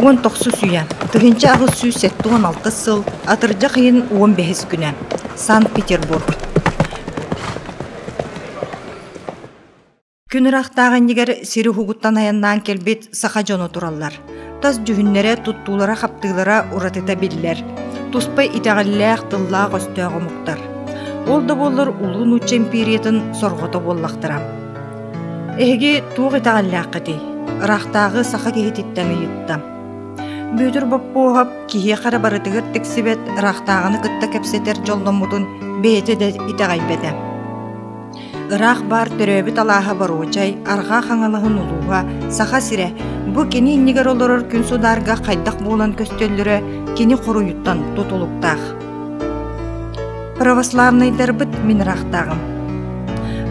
Уон тохсус үйэ, тыһыынча аҕыс сүүс сэттэ уон алта сыл, атырдьах ыйын уон бэһис күнэ, Санкт-Петербург. Күн ыраахтаах иннигэр сир уһугуттан айаннаан кэлбит саха дьоно тураллар. Тас дьүһүннэрэ, туттуулара-хаптыылара уратыта биллэр. Туспа итэҕэллээх, тыллаах-өстөөх омуктар. Ол да буоллар улуу нуучча империятын сорҕото буоллахтара. Эһиги туох итэҕэллээххитий? Ыраахтааҕы саха киһититтэн ыйытта. Бүөтүр Боппуоһап киһиэхэ барытыгар тиксибэт ыраахтааҕыны кытта кэпсэтэр дьолломмутун бэйэтэ да итэҕэйбэтэ. Ыраах баар төрөөбүт алааһа Боруочай Арҕаа Хаҥалаһын улууһа Саха сирэ бу кини иннигэр олорор күн судаарга хайдах буолан көстөллөрө кини хоруйуттан тутулуктаах. Православнайдарбыт мин ыраахтааҕым.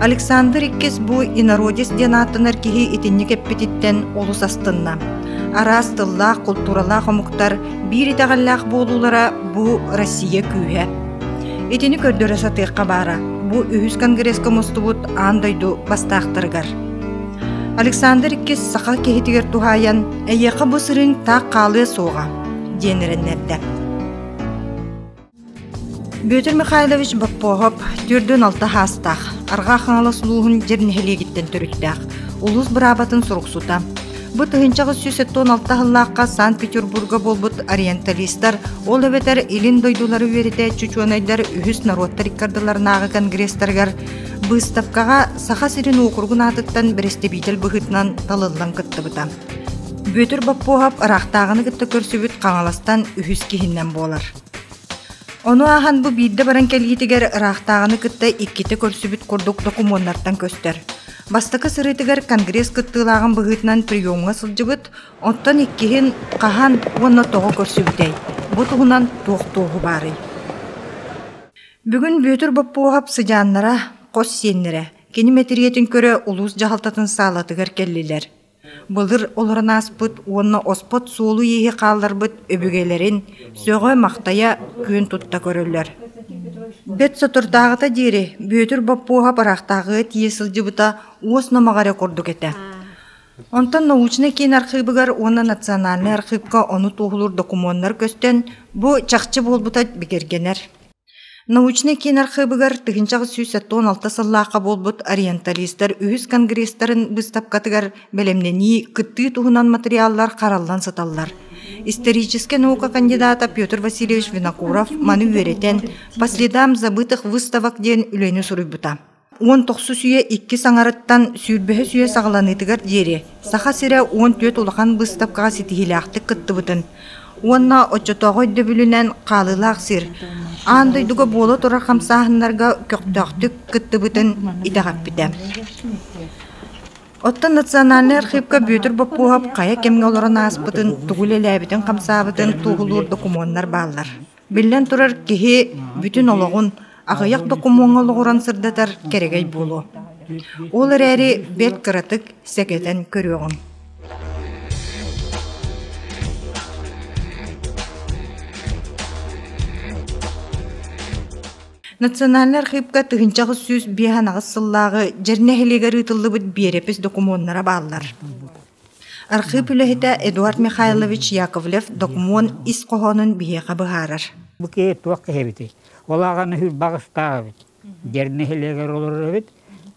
Александр иккис бу инородец диэн ааттанар киһи итинник эппититтэн олус астынна. Араас тыллаах, култууралаах омуктар биир итэҕэллээх буолуулара бу Россия күүһэ. Итини көрдөрө сатыахха баара бу үһүс конгресска мустубут аан дойду бастаахтарыгар. Александр II саха киһитигэр туһаайан «Эйиэхэ бу сырыыҥ таах хаалыа суоҕа» диэн эрэннэрдэ. Бүөтүр Михайлович Боппоһоп төрдүн алта хаастаах, Арҕаа Хаҥалас улууһун Дьэр нэһилиэгиттэн төрүттээх, улуус быраабатын суруксута. Бу тыһыынчаҕа сүүс сэттэ уон алта сыллаахха Санкт-Петербурга буолбут ориенталистар, ол эбэтэр илин дойдулары үөрэтээччи учуонайдар үһүс норуоттар иккардыларынааҕы конгресстарыгар быыстапкаҕа Саха сирин уокуругун аатыттан бэрэстэбиитэл быһыытынан талыллан кыттыбыта. Бүөтүр Баппуоһап ыраахтааҕыны кытта көрсүбүт Хаҥаластан үһүс киһинэн буолар. Ону аахан бу биирдэ баран кэлиитигэр ыраахтааҕыны кытта иккитэ көрсүбүт курдук докумуоннартан көстөр. Бастакы сырыытыгар Конгресс кыттыылааҕын быһыытынан приемҥа сылдьыбыт, оттон иккиһин хаһан уонна тоҕо көрсүбүтэй? Бу туһунан туох туоһу баарый? Бүгүн Бүөтүр Боппуоһап сыдьааннара, хос сиэннэрэ, кини мэтириэтин көрө улуус дьаһалтатын саалатыгар кэллилэр. Былыр олорон ааспыт уонна оспот суолу-ииһи хаалларбыт өбүгэлэрин сөҕө-махтайа күн тутта көрөллөр. Бэт соторутааҕыта диэри Бүөтүр Боппуоһап ыраахтааҕыга тиийэ сылдьыбыта уос номоҕо эрэ курдук этэ. Онтон научнай киин архыыбыгар уонна национальнай архыыпка ону туоһулуур докумуоннар көстөн, бу чахчы буолбута бигэргэнэр. Научнай киин архыыбыгар тыһыынчаҕа сүүс сэттэ уон алта сыллаахха буолбут ориенталистар үһүс конгресстарын быыстапкатыгар бэлэмнэнии кыттыы туһунан матырыйааллар хараллан сыталлар. Историческай наука кандидата Петр Васильевич Винокуров маны үөрэтэн «По следам забытых выставок» диэн үлэни суруйбута. Уон тохсус үйэ иккис аҥарыттан сүүрбэһис үйэ саҕаланыытыгар диэри Саха сирэ уон түөрт улахан быыстапкаҕа ситиһиилээхтик кыттыбытын уонна оччотооҕу өйдөбүлүнэн хаалыылаах сир аан дойдуга буола турар хамсааһыннарга көхтөөхтүк кыттыбытын итэҕэппитэ. Оттон национальнай архыыпка Бүөтүр Боппуоһап хайа кэмҥэ олорон ааспытын, тугу үлэлээбитин-хамсаабытын туоһулуур докумуоннар бааллар. Биллэн турар, киһи бүтүн олоҕун аҕыйах докумуоҥҥа олоҕуран сырдатар кэрэгэй буолуо. Ол эрээри бэрт кыратык сэгэтэн көрүөҕүҥ. Национальнай архыыпка тыһыынча аҕыс сүүс биэһ анаҕыс сыллааҕы Дьэр нэһилиэгэр ыытыллыбыт биэрэпис докумуоннара бааллар. Архыып үлэһитэ Эдуард Михайлович Яковлев докумуон ис хоһоонун биһиэхэ быһаарар. Бу киһи туох киһибитий? Ол аҕаны Уйбаҕастаах эбит. Дьэр нэһилиэгэр олорор эбит.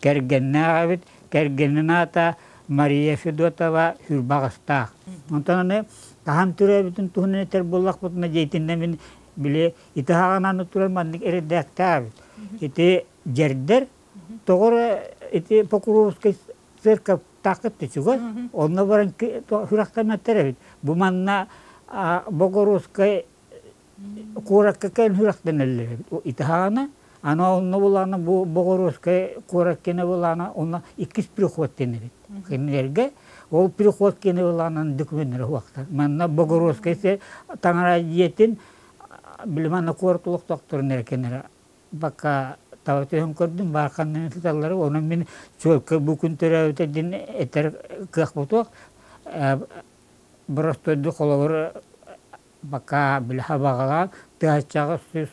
Кэргэннээх эбит. Кэргэнин аата Мария Федотова Уйбаҕастаах. Онтон аны хаһан төрөөбүтүн туһунан этэр буоллахпытына, дьиэтиннэ мин били ити аҕанан турар маннык эрэдээктээбит. Ити дьэрдэр тоҕо эрэ ити Покровскай церковтааххыт түсүгө, онно баран сүрэхтэммэттэр эбит. Бу манна Богородскай куоракка кэлэн сүрэхтэнэллэр эбит. Итиһаана, анаа онно булаана бу Богородскай куорат киэнэ булаана онно иккис приход киэн эбит. Кинилэргэ ол приход киэнэ булаанан документтары уохтар. Манна Богородскай таҥара дьиэтин билим манна куорат олохтоохторун эрэ кэнэрэ Пока таа өтөһөн көрдүм, баарханынан сыталлар, онон мин чуолка бу күн төрөөбүтэ дин этэр кыах бутуох. Боростойду холобур пока били хабаҕалаан тыһаччаҕа сүүс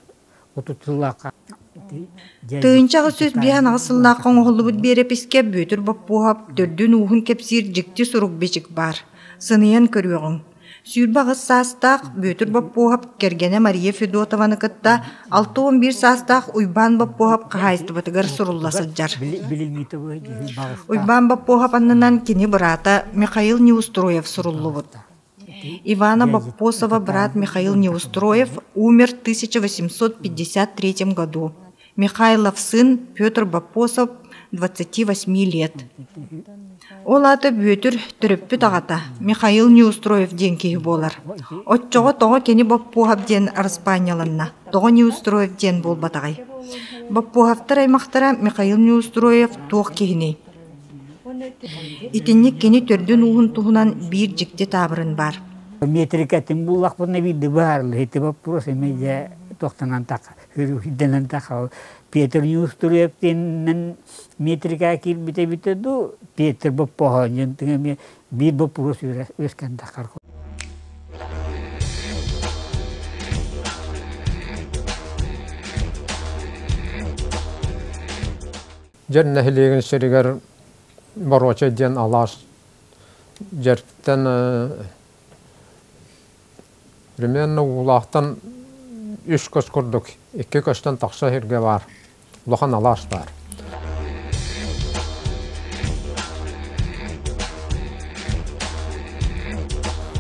отут сыллаахха Тыйынчаҕы сүс биһанаҕы сыллаахха оҥоһуллубут биэрэпискэ Бүөтүр Боппуоһап төрдүн ууһун кэпсиир дьикти сурук-бичик баар. Сыныйан көрүөҕүҥ Сүүрбэ аҕыс саастаах Бүөтүр Боппуоһап кэргэнэ Мария Федотованы кытта алта уон биир саастаах Уйбаан Боппуоһап хаһаайыстыбатыгар сурулла сылдьар. Уйбаан Боппуоһап аннынан кини быраата Михаил Неустроев суруллубут. Ивана Боппосова быраат Михаил Неустроев умер в 1853 году. Михайловсын Петр Боппосов двадцати восьми лет Ол аата Бүөтүр төрөппүт аҕата Михаил Неустроев диэн киһи буолар. Оччоҕо тоҕо кини Боппуһов диэн араспаанньаланна, тоҕо Неустроев диэн буолбатаҕай? Боппуһовтар аймахтара Михаил Неустроев туох киһиний? Итинник кини төрдүн-ууһун туһунан биир дьикти таабырын баар. Метрикэтин буллахпына биирдэ быһаарыллыһыты боппуруос эмиэ туохтанан тахха. Петр Неустроев тиэннэн метрикаа киирбит эбитэ дуу, Петр Боппоһоон диэн эмиэ биир боппуруос үөскэнтэххэр Дьэр нэһилиэгин сиригэр Боруочай диэн алаас дьэртэн Примерно Уулаахтан үс көс курдук икки көстөн тахса сиргэ баар улахан алаас баар.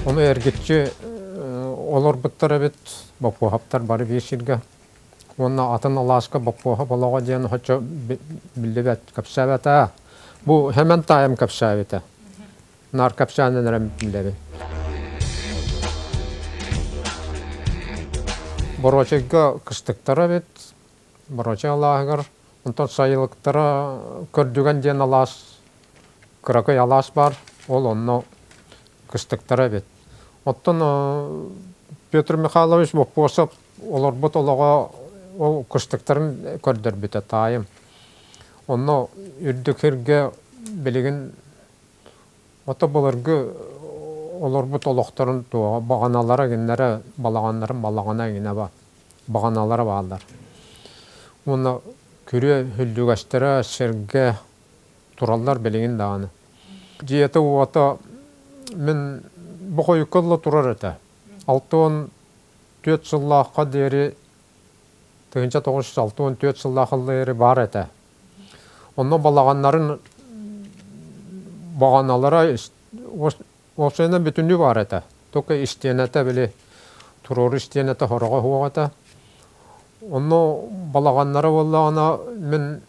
Ону эргиччи олорбуттар эбит Боппуоһаптар бары биир сиргэ уонна атын алааска Боппуоһап олоҕо диэн хочо биллибэт кэпсээбэтэ бу Хэмэн таайым кэпсээбитэ наар капчаанын эрэ билэбин боруочайга кыстыктара эбит боруочай алааһыгар онтон сайылыктара көрдүгэн диэн алаас кыракый алаас баар ол онно кыстыктара эбит оттон петр михайлович боппуосап олорбут олоҕо ол кыстыктарын көрдөрбүтэ таайым онно үрдүк сиргэ билигин Ото былыргы олорбут олохторун туоҕа баҕаналара гиннэре балаҕаннарын балаҕана гинеба баҕаналара бааллар. Уонна күрүө үллүгэстэрэ сиргэ тураллар билигин даҕаны. Дьиэтэ-уота мин бу хойукка ылла турар этэ. Алта уон түөрт сыллаахха диэри тыһыынча тоҕус жүз алта уон түөрт сыллаах ыллыйары баар этэ. Онно балаҕаннарын баҕаналара уопсайынан бүтүннүү баар этэ. Только истиэнэтэ били туруору истиэнэтэ хороҕо суох этэ. Онно балаҕаннара буоллаҕына мин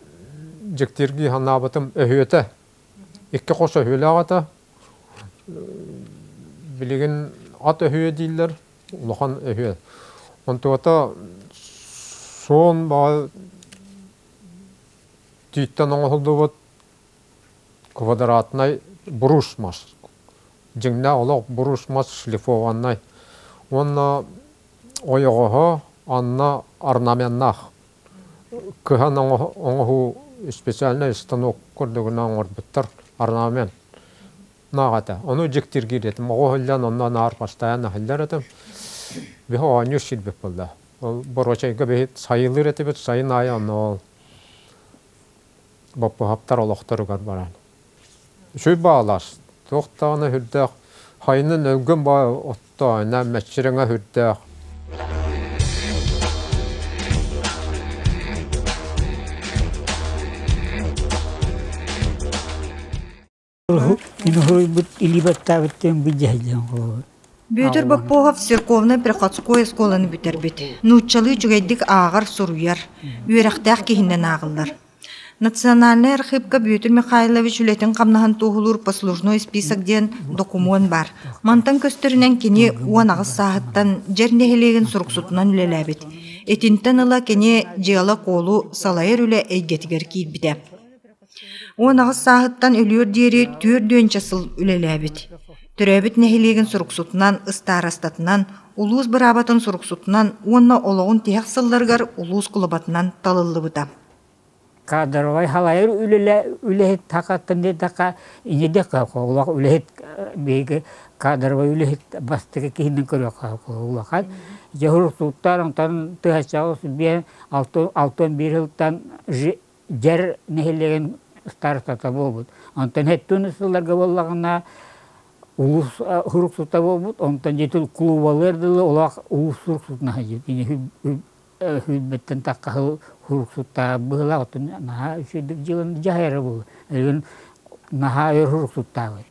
дьиктиргии санаабытым өһүөтэ икки хос өһүөлээх этэ билигин ат өһүө дииллэр улахан үһүө. Онтуата суон баҕа тииттэн оҥоһуллубут квадратнай бурушмас. Дьиҥнээх олох бурушмас шлифованнай. Уонна ойоҕоһо анна орнаменнаах. Кыһан оҥоһуу специальнай станок курдугуна оҥорбуттар орнамен. наҕата ону дьиктиргиир этим оҕо сылдьан онно наар бастайан аһыллар этим биһи оонньуур сирбит булла ол боруочайга биһи сайылыыр этибит сайын аайы онно ол боппуһаптар олохторугар баран үчүй баалас туох даҕаны үрдээх хайынын өлгүм баа оттооһуна мэччирэҥэ үрдээх Бүөтүр Боппуохов церковнай приходской оскуоланы бүтэрбит. Нууччалыы үчүгэйдик ааҕар, суруйар, үөрэхтээх киһинэн ааҕыллар. Национальнай архыыпка Бүөтүр Михайлович үлэтин хамнаһын туоһулуур послужной список диэн докумуон баар. Мантан көстөрүнэн кини уон аҕыс сааһыттан Дьэр нэһилиэгин суруксутунан үлэлээбит. Итинтэн ыла кини дьыала-куолу салайар үлэ эйгэтигэр киирбитэ. Уон аҕыс сааһыттан өлүөр диэри түөрт үөнчэ сыл үлэлээбит. Төрөөбүт нэһилиэгин суруксутунан, ыстаарастатынан, улуус быраабатын суруксутунан уонна олоҕун тиһэх сылларыгар улуус кулубатынан талыллыбыта. Кадровай халайар үлэлэ үлэһит хакатынныдака инидека холох үлэһит биһиги кадровай үлэһит бастыгы киһинин көрөкө улахан жehур туттар онтон тыһача биен алтын алтын бир хылтан дьэр нэһилиэгин старостата буолбут. Онтон хэттүн сылларга буоллаҕына улуус сурук сута буолбут, онтон дьиэтин клубалыар дылы олох улуус сурук сутун аһыйыт. Кини хүйбэттэн таххаһыл сурук сутаа быһыла, оттон наһаа үчүгэйдик дьыаланы дьаһайара буолла. Эргин наһаа өр сурук сутаабыт.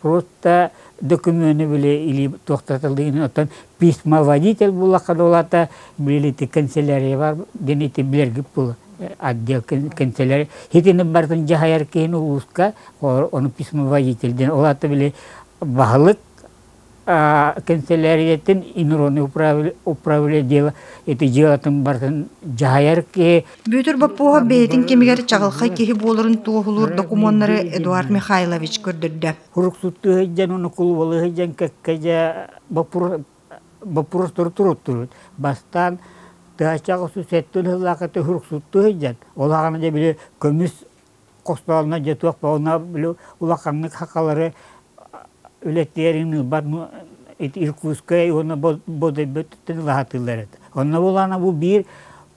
просто докумены били или туохтатылыын оттон письмоводитель буллахха да улаата били ти канцелярия бар дени ти билэргит пул отдел канцелярия хитинин бартын дьаһайар киһин улууска ону письмоводитель ден улаата били баһылык канцелярияттан инорунный управление дела это делатын бартын дьаһайар киһи Бүөтүр Боппуоһап бэйэтин кэмигэр чаҕылхай киһи буоларын туоһулуур докумуоннары Эдуард Михайлович көрдөрдө. Хуруксуттуу сылдьан уну кулубалы сылдьан кэккэдьэ боппуруос туруттурут бастаан тыачаҕы сусеттун сыллаахыты хуруксуттуу сылдьан ол аҕам да били көмүс хостоолуна дьэ туох баҕана били улаханнык хахалары үлэтиэрин ылбат Иркутскай уонна Бодойботтон ылаһатыылар этэ. Онно буолаана бу биир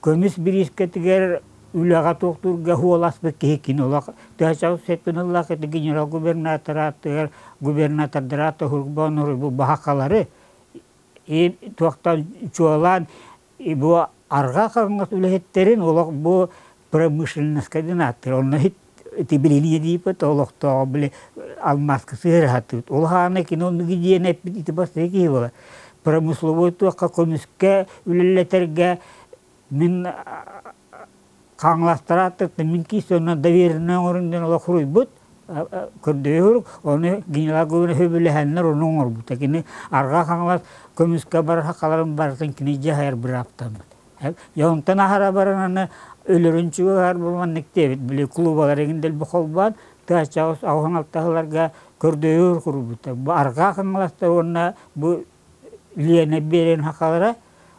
көмүс бириискэтигэр үлэҕэ туохтуурга хуоласпыт киһи кини олох төһө сеппин ыллаах ити генерал-губернатор ааттыгар губернатордара аата Хурбоон Оройбу баһахалары и туохтан чуолаан Бу арҕаа хаҥас үлэһиттэрин олох бу промышленноска диэн ааттыыр. Онно тибилиние диипит, олохтооҕо били алмааска сыарыһатыыт. Ол аана кино диэн эппит ити бастакы киһи буолар. Промысловой туохха көмүскэ үлэлэтэргэ мин хаҥаластара аттыттан мин киистонна довереннай оҥорон диэн олох суруйбут көрдөйө сурук оны генерал Гугунов үбүлэһэннэр ону оҥорбута кини арҕаа хаҥалас көмүскэ барар халарын барытын кини дьаһайар бырааптаммыт дьэ онтон аһара баран аны өлөрүн чугуһар булманнык диэбит били клубалар эгин дэлби холбоон тыачаҕыс аҕыһын алтаһыларга көрдөйө курбута арҕаа хаҥаластар уонна бу Лена Берин хахалара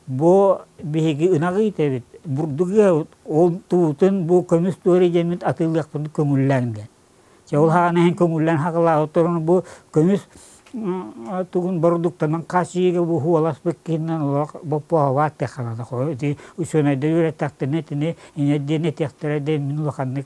Бу биһиги ынах иитэбит, бурдук ыабыт, ол туутун бу көмүс туора идэммит атыылыахпыт көҥүллэнгэ. Чэ ол аһаан иһин көҥүллэн хакылаабыт туран бу көмүс тугун бородууктанан хас ийигэ бу уоласпыт киһинэн олох боппуоһабаат тахалата хойут учуонайдар үөрэттэхтэринэ итини иҥэр диэн этиэхтэрэ да мин улаханнык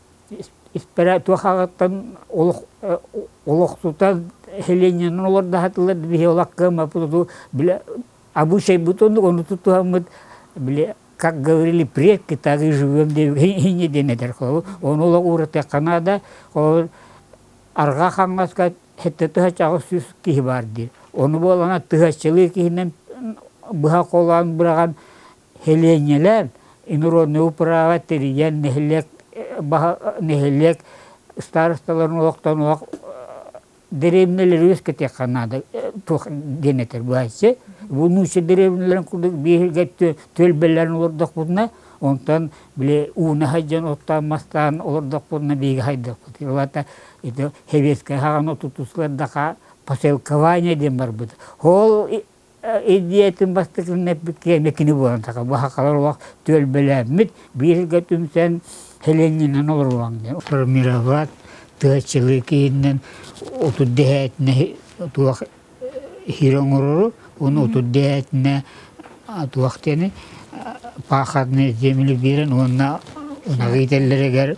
испэрэ туох аҕаттан олох олохсутан селениенан олордоһатылар биһи олох кыаммаппыту били обучайбыт оннук ону тутуһаммыт били как говорили предки так и живем хине диэн этэр ону олох ууратыахха наада арҕаа хаҥаска хэтте тыһачаҕы сүүс киһи баар диир ону буолана тыһаччылыы киһинэн быһа холоон быраҕан Сэлиэнньэлээн инороднай управа тэрийэн нэһилиэк нэһилиэк старосталарын олохтонуох дэриэбинэлэри үөскэтиэххэ наада туох диэн этэр быһаччы бу нуучча дэриэбинэлэрин курдук бииргэ түөлбэлэрин олордохпутуна онтон били ууна сылдьан оттоон мастаан олордохпутуна биһиги хайдахпыт уолата ити сэбиэскэй хаҕаны тутусулар да посылкование диэн барбыт ол идеятын бастакынан эппит киэнэ кини буолан таха бу хахалар олох түөлбэлээммит бииргэ түмсэн Һелениынан олоруоҥ диэн формировать тыа чылыы киһиннэн отут дэһээтинэ туох иһир оҥорору уонна отут дэһээтинэ туох диэни пахотные земли биэрэн уонна ынаҕы итэллэригэр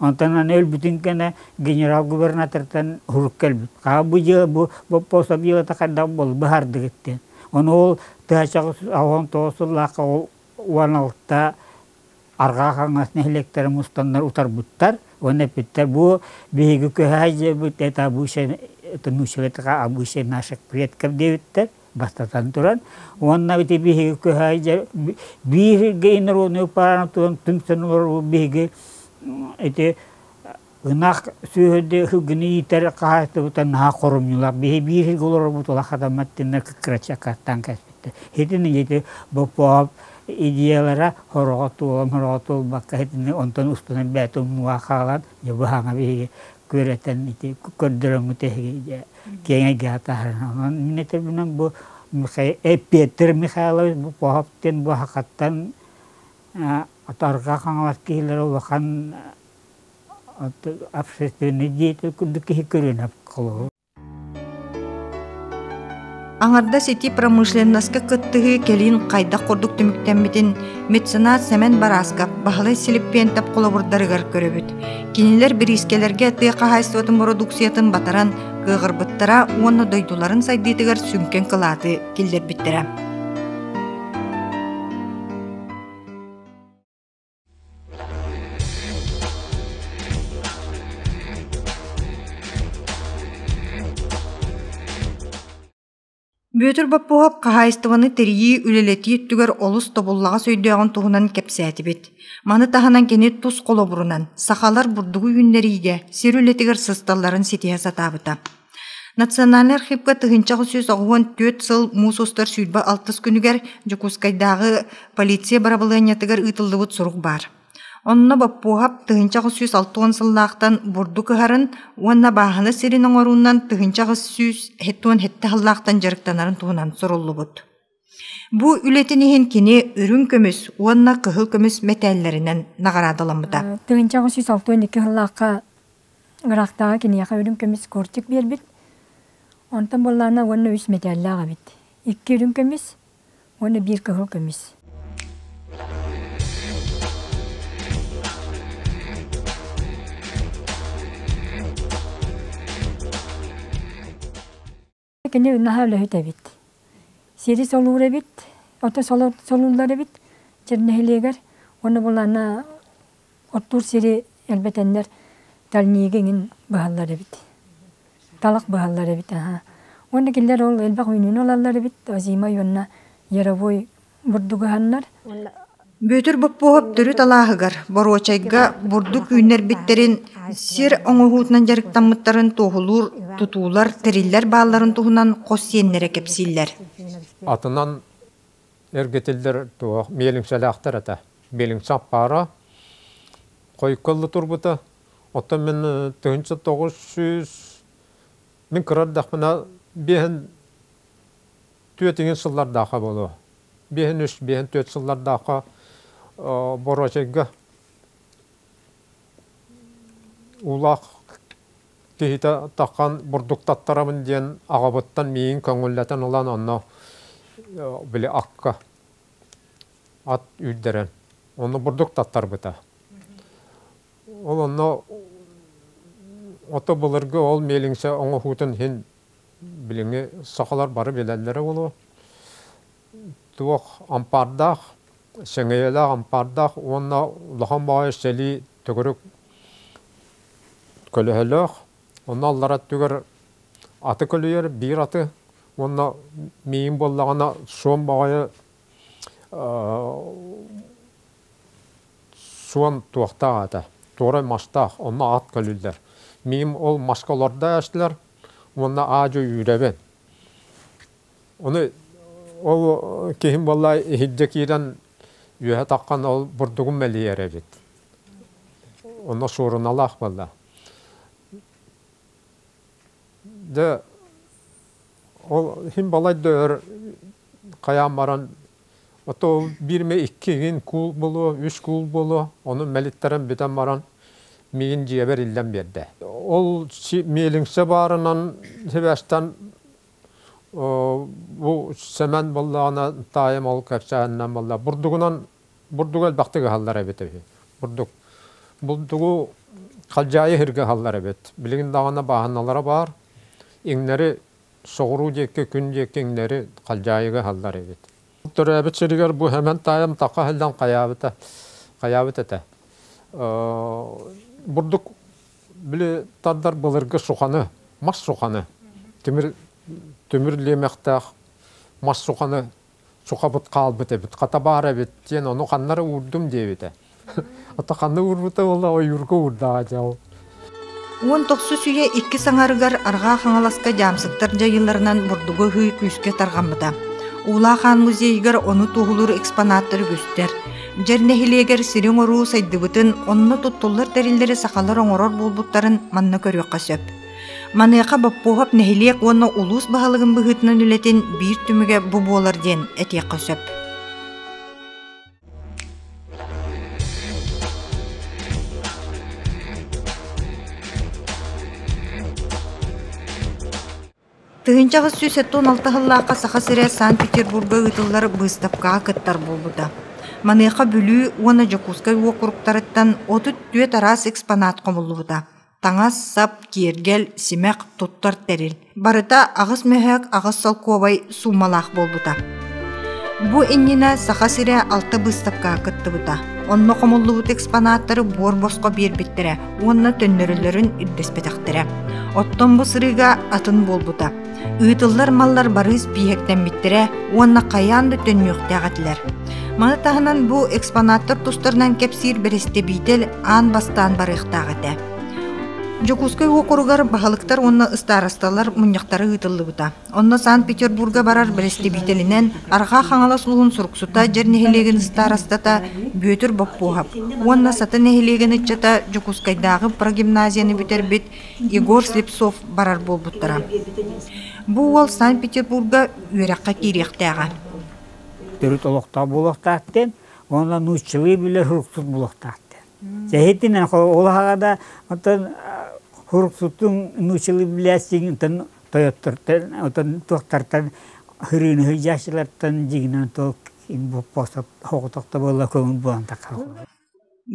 Онтон аны өлбүтүн кэнэ генерал-губернатортан сурук кэлбит. Хаа бу дьыала бу боппуосап дьыалата хайдах бол быһаардыгыт диэн. Ону ол тыачаҕы он тоҕус сыллаахха ол уон алта арҕаа хаҥас нэһилиэктэрэ мустаннар утарбыттар уонна эппиттэр бу биһиги көһө сдьиэбит это обычай это нусивать это обычай наших предков диэбиттэр бастатан туран, уонна ити биһиги кыһа биһиги народную паранатуан түмсэн олорор биһиги ити ынах сүөһүдэ ыһыгыны иитэр хаһаайыстыбыта наһаа хорумньулаах биһи бииргэ олорорбут ыла хатаммат тиннер кыкрачакаттан кэспиттэ итини ити бопоп идеялара хороҕо туолан хороҕо туолбакка итини онтон устунан бээтэ умнуга хаалан дьэ быһаҥа биһиги күөрэтэн ити көрдөрөҥҥү тэһиги киэҥэйдээх таһынан иннэ төрүнэн бу Эппиэттэр Михайлович Буков диэн Буһакаттан Отарга Хаҥалас киһилэрэ улахан общественный деятель курдук киһи көрүнэ холобур Аҥардас ити промышленноска кыттыһыы кэлин хайдах курдук түмүктэммитин меценат Сэмэн Барааскап Баһылай Силиппиэнтэп холобурдарыгар көрөбүт. Кинилэр бириискэлэргэ тыа хаһаайыстыбатын бородууксуйатын батаран кыаҕырбыттара уонна дойдуларын сайдыытыгар сүҥкэн кылааты киллэрбиттэрэ. Бүөтүр Боппуоһап хаһаайыстыбаны тэрийии, үлэлэтии өттүгэр олус тобуллаҕас өйдөөҕүн туһунан кэпсээтибит. Маны таһынан кини тус холобурунан сахалар бурдугу үүннэриигэ, сир үлэтигэр сысталларын ситиһэ сатаабыта. Национальнай архивка тыһыынча аҕыс сүүс оҕуһун түөрт сыл муус устар сүүрбэ алтыс күнүгэр Дьокуускайдааҕы полиция бырабылыанньатыгар ыытыллыбыт сурук баар. Онно боппуоһап тыһыынча аҕыс сүүс алта уон сыллаахтан бурдук ыһарын уонна бааһына сирин оҥоруунан тыһыынча аҕыс сүүс уон сэттэ сыллаахтан дьарыктанарын туһунан суруллубут. Бу үлэтин иһин кини үрүҥ көмүс уонна кыһыл көмүс мэтээллэринэн наҕараадаламмыта. Тыһыынча аҕыс сүүс алты уон икки сыллаахха ыраахтааҕы киниэхэ үрүҥ көмүс кортик биэрбит. Онтон буоллаана уонна үс мэтээллээх эбит. Икки үрүҥ көмүс уонна биир кыһыл көмүс. Кини наһаа үлэһит эбит. Сири солуур эбит, ото солууллар эбит дьэ нэһилиэгэр уонна булана оттуур сири элбэтэннэр дальнийга иҥин быһаллар эбит. Талах быһаллар эбит, аһа. Уонна кинилэр ол элбэх үүнүүнү ылаллар эбит, озимай уонна яровой бурдугаһаннар Бүөтүр Боппуоһап төрүт алааһыгар, боруочайга бурдук үүннэрбиттэрин, сир оҥоһуутунан дьарыктаммыттарын туоһулуур тутуулар, тэриллэр баалларын туһунан хос сиэннэрэ кэпсииллэр. Атынан эргитиллэр туох миэлиҥсэлээхтэр этэ. Миэлиҥсэ аппаара хойуккалла турбута. Оттон мин тыһынча тоҕус сүүс мин кыра эрдэхпинэ биэһин Түөтүҥүн сыллардаахха буолуо. Биэһин-үс, биэһин-түөрт сыллардаахха боруочайга уулаах киһитэ таххан бурдуктаттарамын диэн аҕабыттан миигин көҥүллэтэн ылан онно били акка ат үүрдэрэн онно бурдук таттарбыта. Ол онно ото былыргы ол миэлиҥсэ оҥоһуутун иһин билиҥҥи сахалар бары билэллэрэ буолуо, туох ампаардаах, сэҥэйэлээх ампаардаах уонна улахан баҕайы сэлии төгүрүк көлөһөлөөх, онно аллара өттүгэр аты көлүйэр биир аты уонна миин буоллаҕына суон баҕайы суон туохтаах этэ туорай мастаах онно ат көлүллэр миин ол маска олордо эстилэр уонна аадьы үүрэбин. Ону ол киһим буолла иһирдьэ киирэн үөһэ таххан ол бурдугун мэлийэр эбит. Онно суоруналаах буолла. Дьэ ол иһин балай да өр хайаан баран Ото биир эмэ иккигин куул буолуо, үс куул буолуо, ону мэлиттэрэн бүтэн баран миигин дьиэбэр иллэн биэрдэ. Ол миэлиҥсэ баарынан сибээстэн бу Сэмэн буоллаҕына таайым ол кэпсээһининэн буолла. Бурдугунан бурдугу элбэхтик ыһаллар эбит үһү. Бурдук бурдугу халдьаайы иһиргэ ыһаллар эбит. Билигин даҕаны бааһыналара баар. Иҥнэри соҕуруу диэкки күн диэкки иҥнэри халдьаайыга аһаллар эбит. Төрөөбүт сиригэр бу эмэн таайым така аһыллан хайаабыта хайаабыт этэ. Бурдук били тардар былыргы суханы, мас суханы, тимир тимир лиэмэхтээх мас суханы сухабыт хаалбыт эбит, хата баар эбит диэн ону ханна эрэ уурдум диэбитэ. Ото ханна уурбута буолла ойуурга уурдаҕа дьэ Уон тохсус үйэ иккис аҥарыгар Арҕаа Хаҥаласка дьаамсыктар дьайыыларынан бурдугу ыһыы күүскэ тарҕаммыта. Уулаах аан музейыгар ону туоһулуур экспонаттар үгүстэр. Дьэр нэһилиэгэр сири-оҥоруу сайдыбытын, онно туттуллар тэриллэри сахалар оҥорор буолбуттарын манна көрүөххэ сөп. Маныаха Боппуоһап нэһилиэк уонна улуус баһылыгын быһыытынан үлэтин биир түмүгэ бу буолар диэн этиэххэ сөп. Тыһыынча аҕыс сүүс сэттэ уон алта сыллаахха Саха сирэ Санкт-Петербурга ыытыллар быыстапкаҕа кыттар буолбута. Маныаха Бүлүү уонна Дьокуускай уокуруктарыттан отут түөрт араас экспонат хомуллубута. таҥас-сап, киэргэл, симэх, туттар тэрил барыта аҕыс мөһөөк аҕыс солкуобай суумалаах буолбута. Бу иннинэ Саха сирэ алта быыстапкаҕа кыттыбыта. Онно хомуллубут экспонаттары буор-босхо биэрбиттэрэ уонна төннөрөллөрүн үрдэспэтэхтэрэ. Оттон бу сырыыга атын буолбута. Ыытыллар маллар барыыс биһиктэммиттэрэ уонна хайаан да төннүөхтээх этилэр. Маны таһынан бу экспонаттар тустарынан кэпсиир бэрэстэбиитэл аан бастаан барыахтаах этэ. Дьокуускай уокуругар баһылыктар уонна ыстаарасталар мунньахтара ыытыллыбыта. Онно Санкт-Петербурга барар бэрэстэбиитэлинэн Арҕаа Хаҥалас улуун Суруксута дьэр нэһилиэгин ыстаарастата Бүөтүр Боппуоһап уонна Сата нэһилиэгин ыччата Дьокуускайдааҕы прогимназияны бүтэрбит Егор Слепцов барар буолбуттара. Бу уол Санкт-Петербурга үөрэххэ киириэхтээҕэ. төрүт олохтоох буолуохтаахтын уонна нууччалыы билэ суруксут буолуохтаахтын. Сэһитинэн ол аһаҕа да оттон суруксутун нууччалыы билээсиҥ оттон тойоттортон оттон туохтартан хырыыны сылдьааччылартан дьигинэн тол боппосот хоҕотохто буолла көҥүл буолан таххар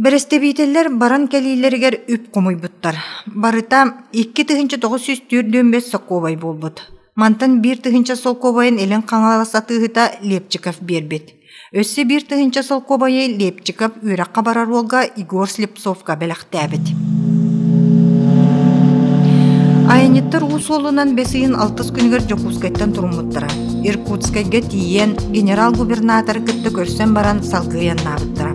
Бэрэстэбиитэллэр баран кэлиилэригэр үп хомуйбуттар. Барыта икки тыһыынча тоҕус сүүс түөрт дүөмбэс солкуобай буолбут. Мантан биир тыһыынча солкуобайын илин хаҥалас атыыһыта Лепчиков биэрбит. Өссө биир тыһыынча солкуобайы Лепчиков үөрэххэ барар уолга Егор Слепцовка бэлэхтээбит. Айанньыттар уу суолунан бэс ыйын алтыс күнүгэр Дьокуускайтан туруммуттара. Иркутскайга тиийэн, генерал-губернатор кытта көрсөн баран салгыы айаннаабыттара.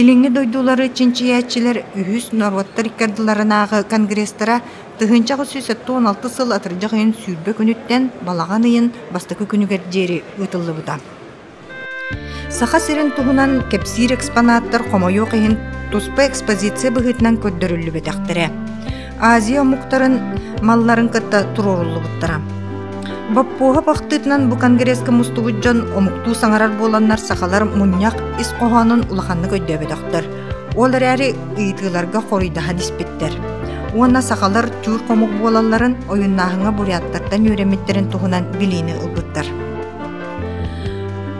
Илиҥҥи дойдулары чинчийээччилэр үһүс норуоттар икки ардыларынааҕы конгресстара тыһыынча аҕыс сүүс сэттэ уон алта сыл атырдьах ыйын сүүрбэ күнүттэн балаҕан ыйын бастакы күнүгэр диэри ыытыллыбыта. Саха сирин туһунан кэпсиир экспонаттар хомойуох иһин туспа экспозиция быһыытынан көрдөрүллүбэтэхтэрэ. Азия омуктарын малларын кытта туруоруллубуттара. Боппуоһап ахтыытынан бу конгресска мустубут дьон омуктуу саҥарар буоланнар сахалар мунньах ис хоһоонун улаханнык өйдөөбөтөхтөр. Ол эрээри ыйытыыларга хоруйдаһан испиттэр. Уонна сахалар чуур хомук буолалларын ойуннааһыҥҥа буряттартан үөрэммиттэрин туһунан билиини ылбыттар.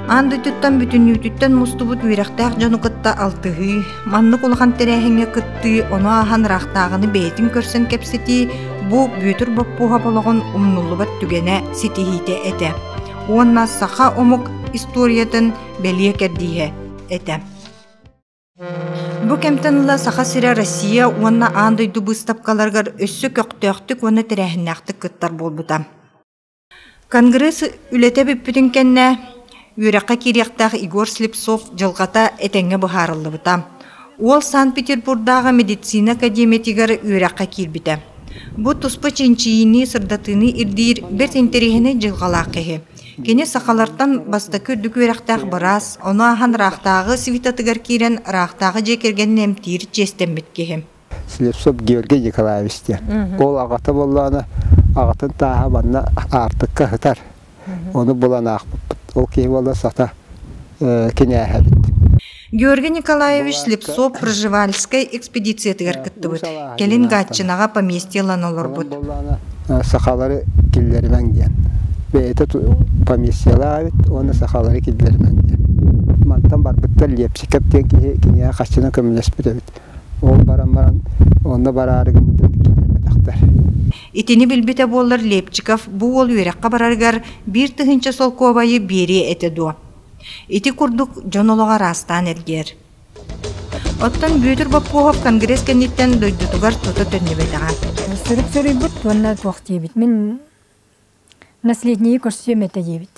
Аан дойдуттан бүтүннүүтүттэн мустубут үөрэхтээх дьону кытта алтыһыы, Маннык улахан тэрээһиҥҥэ кыттыы, ону ааһан ыраахтааҕыны бэйэтин көрсөн кэпсэтии бу Бүөтүр Боппуоһап олоҕун умнуллубат түгэнэ ситиһиитэ этэ уонна саха омук историятын бэлиэ кэрдииһэ этэ. Бу кэмтэн ыла Саха сирэ Россия уонна аан дойду быыстапкаларыгар өссө көхтөөхтүк уонна тэрээһиннээхтик кыттар буолбута. Конгресс үлэтэ бүппүтүн кэннэ үөрэххэ киириэхтээх Егор Слепцов дьылҕата этэҥҥэ быһаарыллыбыта. Уол Санкт-Петербурдааҕы медицина академиятыгар үөрэххэ киирбитэ. Бу туспа чинчийиини, сырдатыыны ирдиир бэрт интэриэһинэй дьылҕалаах киһи. Кини сахалартан бастакы үрдүк үөрэхтээх быраас, ону ааһан ыраахтааҕы светотыгар киирэн, ыраахтааҕы дьиэ кэргэнин эмтиир чиэстэммит киһи. Слепцов Георгий Николаевич диэн. Ол аҕата буоллаҕына, аҕатын тааһа манна аартыкка ыһытар. Ону булан аахпыппыт. Ол киһи буолла сата кинээһэбит. Георгий Николаевич Слепцов Проживальскай экспедициятыгар кыттыбыт. Кэлин Гатчинаҕа поместье ылан олорбут. Сахалары киллэримэҥ диэн. Бэйэтэ поместьелаабыт уонна сахалары киллэримэҥ диэн. Мантан барбыттар Лепчиков диэн киһи киниэхэ хаччынан көмөлөспүт эбит. Ол баран баран онно бараары гыммытым киирбэтэхтэр. Итини билбитэ буоллар Лепчиков бу уол үөрэххэ барарыгар биир тыһыынча солкуобайы биэриэ этэ дуо? Ити курдук дьон олоҕо араастаан эргийэр. Оттон Бүөтүр Бопкоһов конгресс кэнниттэн дойдутугар тута төннүбэтэҕэ. Сурук суруйбут уонна туох диэбит мин наследники көрсүөм этэ диэбит.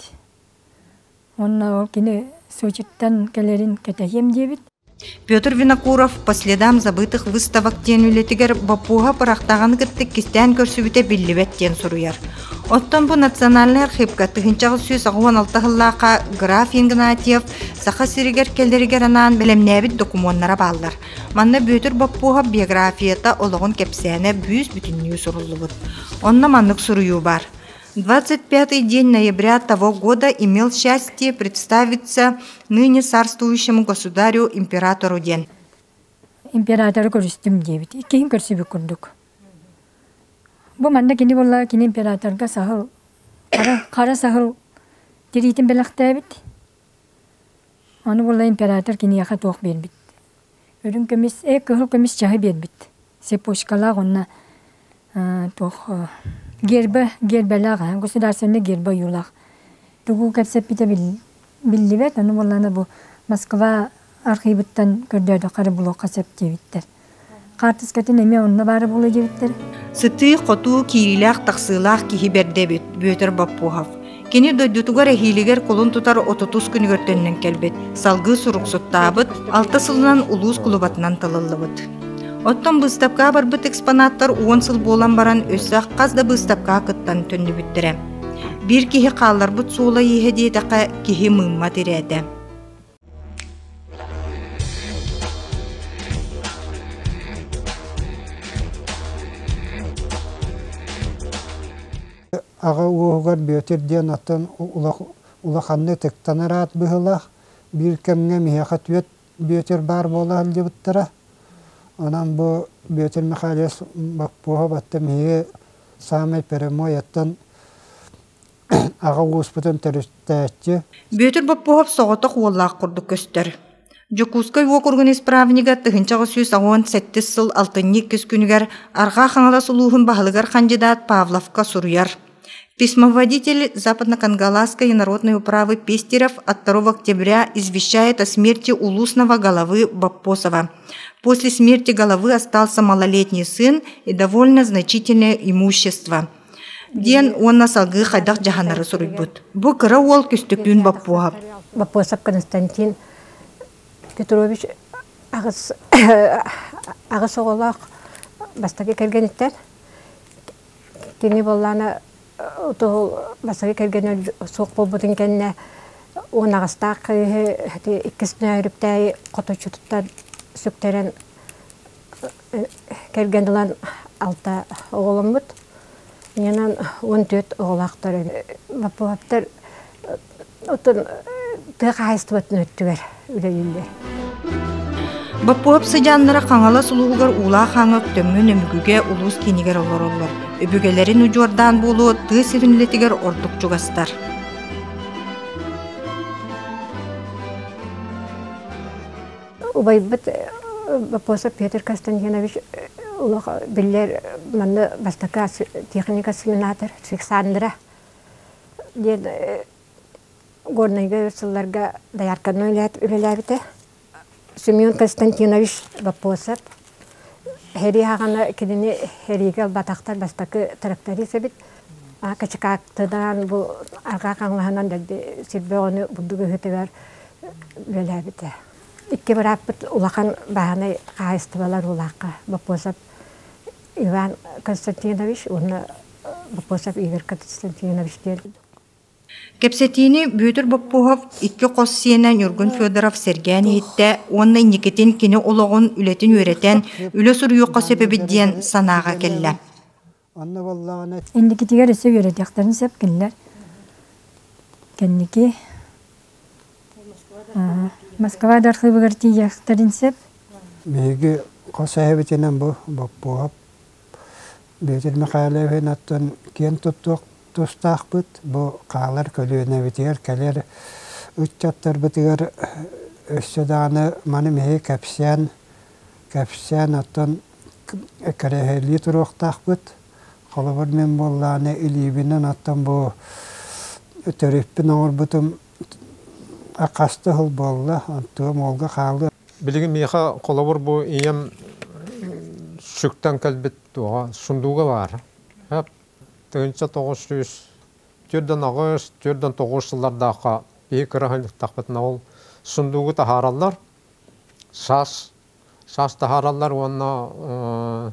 Уонна ол кини Сочиттан кэлэрин кэтэһиэм диэбит. Петр Винокуров «По следам забытых выставок» диэн үлэтигэр боппуоһа бырахтаҕаны кыттык кистээн көрсүбүтэ биллибэт диэн суруйар. Оттон бу национальнай архыыпка тыһыынчаҕыс сүүс аҕыан алта сыллаахха граф Игнатьев Саха сиригэр кэлэригэр анаан бэлэмнээбит докумуоннара бааллар. Манна Бүөтүр Боппуоһап биографията олоҕун кэпсээнэ бүүс бүтүннүү суруллубут. Онно маннык суруйуу баар: двадцать пятый день ноября того года имел счастье представиться ныне царствующему государю императору диэн императору көрүстүм диэбит иккиһин көрсүбүт курдук бу манна кини буолла кини императорга саһыл хара, хара саһыл тириитин бэлэхтээбит Ону буолла император киниэхэ туох биэрбит. Үрүҥ көмүс, ээ кыһыл көмүс чаһы биэрбит. Цепочкалаах уонна туох гербэ, гербэлээх, государственнай гербэ ойуулаах. Тугу кэпсэппитэ биллибэт, ону буоллаана бу Москва архыыбыттан көрдөөдөххө эрэ блокка сөп диэбиттэр. Хаартыскатын эмиэ онно баара буолуо диэбиттэр. Сытыы-хотуу киириилээх-тахсыылаах киһи бэрдэбит Бүөтүр Боппуһов. Кини дойдутугар эһиилигэр кулун тутар отутус күнүгэр төннөн кэлбит, салгыы суруксуттаабыт, алта сылынан улуус кулубатынан талыллыбыт. Оттон быыстапкаҕа барбыт экспонаттар уон сыл буолан баран өссө хас да быыстапкаҕа кыттан төннүбүттэрэ. Биир киһи хаалларбыт суола-ииһэ диэтэххэ киһи мыымма тирээтэ. Аҕа уоһугар Бүөтүр диэн атын улаханнык ытыктанар аат быһыылаах. Биир кэмҥэ миэхэ түөрт Бүөтүр баар буола сылдьыбыттара. Онон бу Бүөтүр Михайлович Баппуһа батта миһиги саамай прямой оттон аҕа ууспутун төрүттээччи Бүөтүр Боппуһап соҕотох уоллаах курдук көстөр. Дьокуускай уокуругун исправнига тыһыынча аҕыс сүүс уон сэттис сыл алтынньы иккис күнүгэр Арҕаа Хаҥалас улууһун баһылыгар хандьыдаат Павловка суруйар. Письмоводитель Западно-Кангаласской народной управы Пестерев от 2 октября извещает о смерти улусного головы Боппосова. После смерти головы остался малолетний сын и довольно значительное имущество. диэн уонна салгыы хайдах дьаһанары суруйбут. Бу кыра уол Күстөкүүн Боппуоһап. Боппуосап Константин Петрович аҕыс аҕыс оҕолоох бастакы кэргэниттэн кини боллаана утуһу бастакы кэргэнэ суох буолбутун кэннэ уон аҕастаах кыыһы иккис нөөрүптээйи хоточчутуттан сүктэрэн Кэргэн ылан алта оҕоломмут. Менен он төрт оҕолоохтор Лаппыһаптар отон тыа хаһайыстыбатын өттүгэр үлэлииллэр. Баппуһап сыдьааннара Хаҥалас улууһугар Уулаах Хаҥык Төммүн Өмүкүгэ улуус киинигэр олороллор. Өбүгэлэрин удьуордаан буолуо тыа сирин үлэтигэр ордук чугастар. Убайбыт Вопросов Петр Константинович олох биллэр манна бастакы техника семинатор Александра диэн Горнайга сылларга доярканан үлэлээбитэ. Семен Константинович Вопросов херий хаҕана кинини херийгэ ылбатахтар бастакы тракторист эбит Качекааттынаан бу арҕаа хаҥалаһынан сир бөҕөнү бурдук ыһытыгар үлэлээбитэ. Икки бырааппыт улахан бааһынай хаһаайыстыбалар уулаахха Боппосов Иван Константинович уонна Боппосов Игорь Константинович диэн Кэпсэтиини Бүөтүр Боппуһов икки хос сиэнэ Ньургун Федоров сэргээн иһиттэ уонна инникитин кини олоҕун, үлэтин үөрэтэн, үлэ суруйуохха сөп эбит диэн санааҕа кэллэ Онно боллоҕуна Инникитигэр өссө үөрэтиэхтэрин сөп кинилэр. Кэнники аха, Москва да архыыбыгар тиийиэхтэрин сөп. Биһиги хос эһэбитинэн бу Боппуоап Бүөтүр Михайловин оттон киэн туттуох тустаахпыт бу хаалар көлүөнэбитигэр кэлэр ыччаттарбытыгар өссө даҕаны маны мэһии кэпсээн кэпсээн оттон кэрэһэлии туруохтаахпыт. Холобур, мин буоллаҕына илиибинэн оттон бу төрүппүн оҥорбутум хаста сыл буолла, онтуом уолга хаалыа. Билигин миэхэ холобур бу ийэм сүктэн кэлбит туоҕа сундууга баар. тыһыынча тоҕус сүүс түөрт да аҕыс, түөрт да тоҕус сыллардаахха киһи кыра санньыктахпытына ол сундуугу таһаараллар. саас саас таһаараллар уонна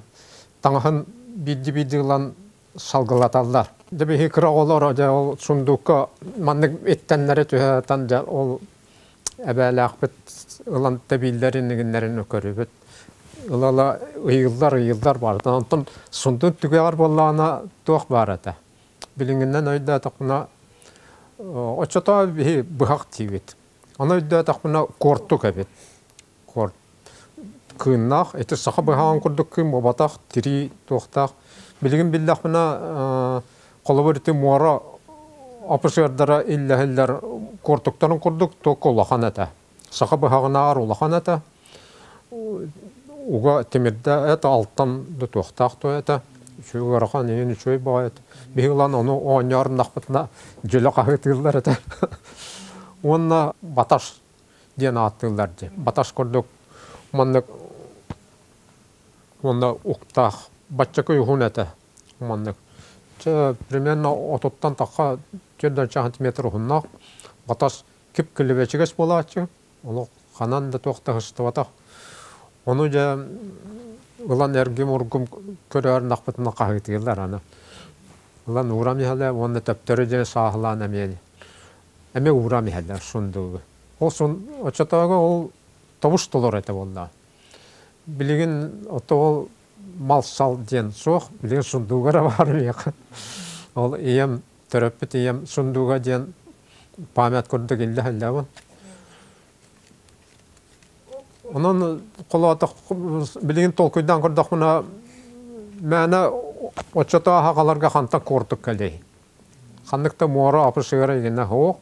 таҥаһын биирдии биирдии ылан салгылаталлар. Дьэ биһиги кыра оҕолор дьэ ол сундуукка маннык иттэннэри түһээтэн дьэ ол эбээлээхпит ылан тэбииллэрин игиннэрин көрүбүт. Ыла-ыла ыйыыллар ыйыыллар баарыта. Онтон сундук түгэҕэр буоллаҕына туох баар этэ. Билиҥҥинэн өйдөөтөххүнэ оччотоо биһи быһах диибит. Аны өйдөөтөхпүнэ куортук эбит. Куорт кыыннаах, ити саха быһаҕын курдук кыым буолбатах, тирии туохтаах. Билигин биллэхпинэ холобур ити муора опусердара иллэһиллэр куортуктарын курдук туох улахан этэ. Саха быһаҕынааҕар улахан этэ. Уга тимирдэ эт алтан да туохтаах туо этэ үчүгэй ыарахан иһин үчүгэй баҕайыт биһи ылан ону оонньооруннахпытына дьөлө хаһыытыыллар этэ уонна баташ диэн ааттыыллар дии баташ курдук маннык уонна уктаах баччакы уһун этэ маннык чэ примерно отуттан тахха түөрт да сантиметр уһуннаах баташ кип-килибэчигэс буолааччы, олох ханан да туох таһыстыбатах. Ону дьэ ылан эргим-ургум көрөөр нахпытына хаһыытыылар аны. Ылан уурам иһэлэ уонна төптөрү дьэ сааһылаан эмиэ эмиэ уурам иһэлэр сундугу. Ол сун оччотооҕу ол тобус толор этэ буоллаа. Билигин ото ол мал-сал диэн суох, билигин сундууга баар миэхэ. Ол ийэм төрөппүт ийэм сундууга диэн память курдук иллэ сылдьабын. Онон холоотох билигин толкуйдаан көрдөхпүнэ мээнэ оччото аһаҕаларга хантан куортук кэлиэй. Ханнык да муора апышыыра игинэ суох.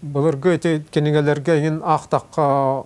Былыргы эти кинигэлэргэ иҥин аахтахха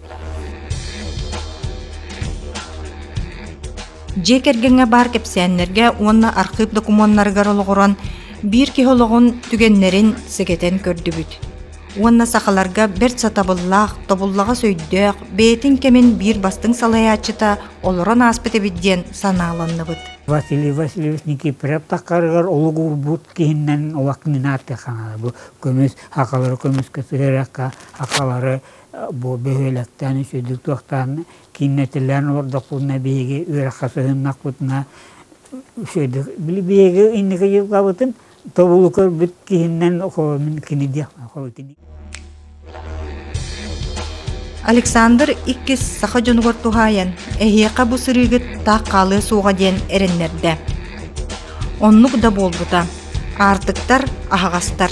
Дьиэ кэргэҥҥэ баар кэпсээннэргэ уонна архыып докумуоннарыгар олоҕуран биир киһи олоҕун түгэннэрин сэгэтэн көрдүбүт уонна сахаларга бэрт сатабыллаах, тобуллаҕас өйдөөх, бэйэтин кэмин биир бастыҥ салайааччыта олорон ааспыт эбит диэн санааланныбыт. Василий Васильевич Никифоров таххарыгар олук уурбут киһиннэн олох минааты хаҥара бу көмүс, акалары көмүскэ сыһыарахха, акалары Бу бөһүөлэктэн үсүдүк туохтаан кииннэтилэн олордохпутуна биһиги үөрэххэ сыһыннахпытына үсүдүк биһиги инники дьылҕабытын тобулу көрбүт киһинэн кини диэхпин Александр иккис саха дьонугар туһаайан эһиэхэ бу сырыыгыт таах хаалыа суоҕа диэн эрэннэрдэ. Оннук да буолбута. Аартыктар, аһаҕастар.